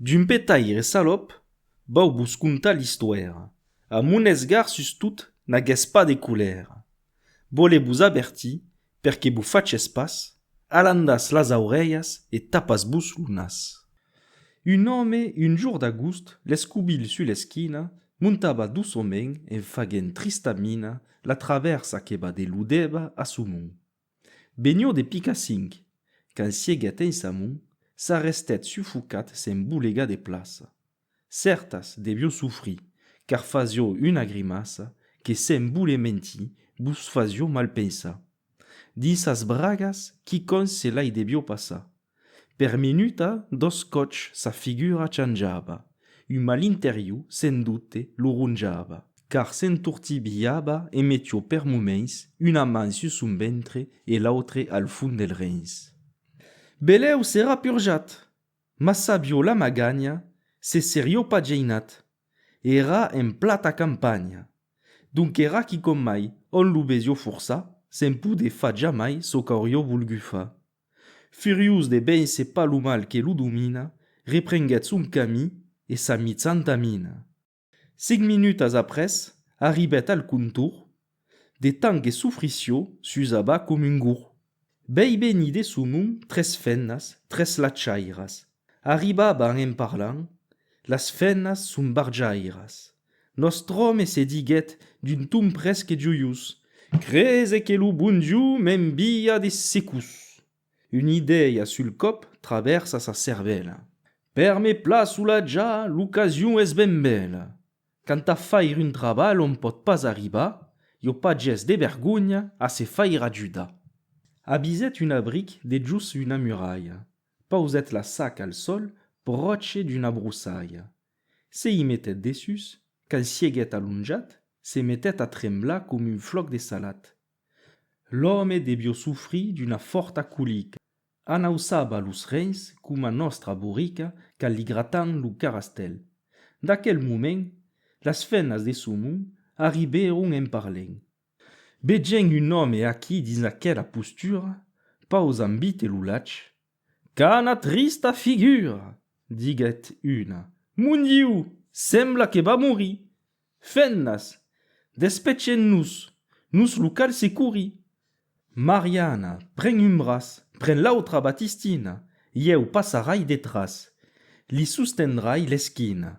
D'un petaire salop, vau vos contar l'istòira, a mon esgar sustot n'aguèss pas de colèra. Vòle vos avertir per que vos faches pas, alandatz las aurelhas e tapatz vos lo nas. Un òme un jour d'agost, l'escobilh sus l'esquina, montava doçoment en faguent trista mina la travèrsa que va de Lodèva a Somon. Benhor de Picacinc, quand sieguèt en Samon, s'arrestèt sufocat se'n bolegar de plaça. Cèrtas devió sofrir, car fasió una grimaça que se'n voler mentir vos fasió mal pensar. Dins sas bragas quicòns se l'ai devió passar. Per minuta dos còps sa figura chanjava, un malinteriu sen dubte lo ronjava, car s'entortibilhava e metió per moments una man sus son ventre e l'autre al fond del rens. Belèu s'èra purjat, mas sabió la maganha, se serió pas geinat. Èra en plata campanha, donqu'èra quicòm mai ont lo besió forçar, se'n podé far jamai çò qu'aurió volgut far. Furiós de véncer pas lo mal que lo domina, reprenguèt son camí e sa mitzanta mina. Cinc minutas après, arribèt al contorn, de tant que sofrissió, s'usava com un gorg. Vei venir de son nom tres fennas, tres latchairas. Arribaban en parlant, las fenas son barjairas. Nòstre òme se diguèt d'un ton presque joiós, Crese que lo bon Dieu m'envia de secús! Una idèia sul còp travèrsa sa cervèla, Per me plaçola ja, l'ocasion es ben bèla! Quant a faire un trabalh ont pòt pas arribar, jo pas ges de vergonha a se faire ajudar. Abisèt un abric dejós una muralha, Pausèt la sac al sol pròche d'una brossària. Se i metèt dessús, quand sieguèt alonjat, se metèt a tremblar com un flòc de salat. L'òme devió sofrir d'una fòrta colica. Anausava los rens coma nòstra borica quand li gratam lo carastèl. D'aquel moment, las fenas de Somon arribèron en parlèn. Vegent un òme aquí dins aquela postura, pausant vite lo lach, Qu'ana trista figura! diguèt una. Mon Diu! Sembla que va morir! Fennas! Despechem-nos! Nos lo cal securir! Mariana, pren un braç, pren l'autra Batistina, ieu passarai detràs, li sostendrai l'esquina.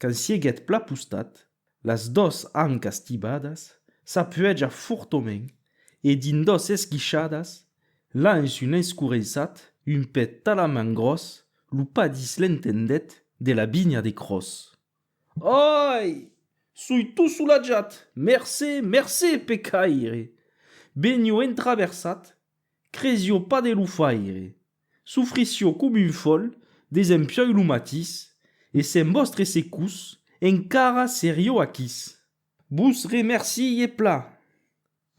Quand siguèt pla postat, las dos ancas tibadas, s'apuèja fortament e dins dos esguishadas la en s'un escureissat un pè talament gròs lo padís l'entendèt de la vinha de Cròs. Ai! Soi tot solatjat! Mercé, mercé, pecaire! Benio entraversat Cresio pas de lo faire. Sufrisio com un fòl, desempioi lo matís, e sens vòstre secús, encara serio aquís. Vos remercie plan.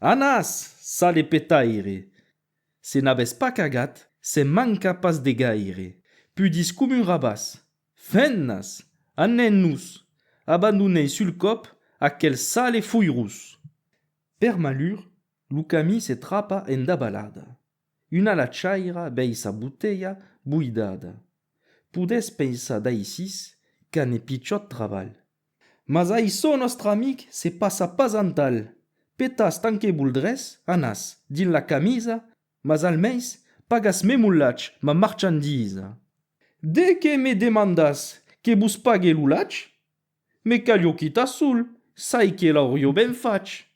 Anas! sale petaire! Se n'avètz pas cagat, se'n manca pas de gaire. Pudís com un rabàs. Fennas! Anèn-nos! Abandonèi sul còp aquel sale foirós! Per malur, Lo camí se trapa en dabalada. Una lachaira vei sa botelha boidada. Podètz pensar d'aisís qu'an e pichòt trabalh. Mas aiçò nòstre amic se passa pas antal. Petas tant que voldrètz, anas, dins la camisa, mas almens pagas me molatge, ma marchandisa. De qué me demandatz que vos pague lo latge? Me calho quita sol, sai que l'aurió ben fach.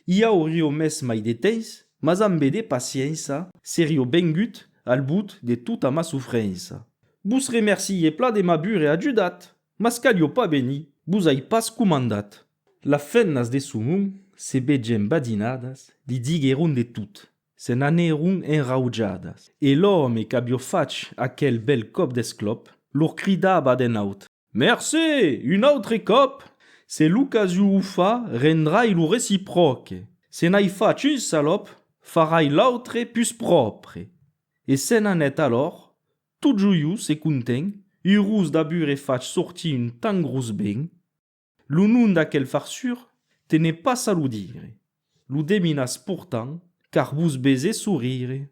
I aurió mès mai de temps, mas ambe de paciença serió vengut al but de tota ma sofrença. Vos remercie pla de m'abure ajudat, mas calho pas venir, vos ai pas comandat. Las femnas de Somon se vegen badinadas, li digueron de tot, se n'anèron enraujadas, e l'òme qu'avió fach aquel bèl còp d'esclòp, lor cridava d'en aut. Mercé! Un autre còp, se l'ocasion o fa, rendrai lo recipròque. Se n'ai fach un salòp, farai l'autre pus pròpre. E se n'anèt alòr, tot joiós e content, urós d'abure fach sortir un tan grós ben. Lo nom d'aquel farsur te n'ai pas a lo dire, lo deminas portant car vos bese sorire.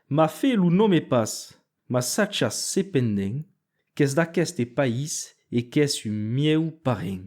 Ma fe lo nome pas, mas sachas cependent qu'es d'aqueste país e qu'es un mieu parent.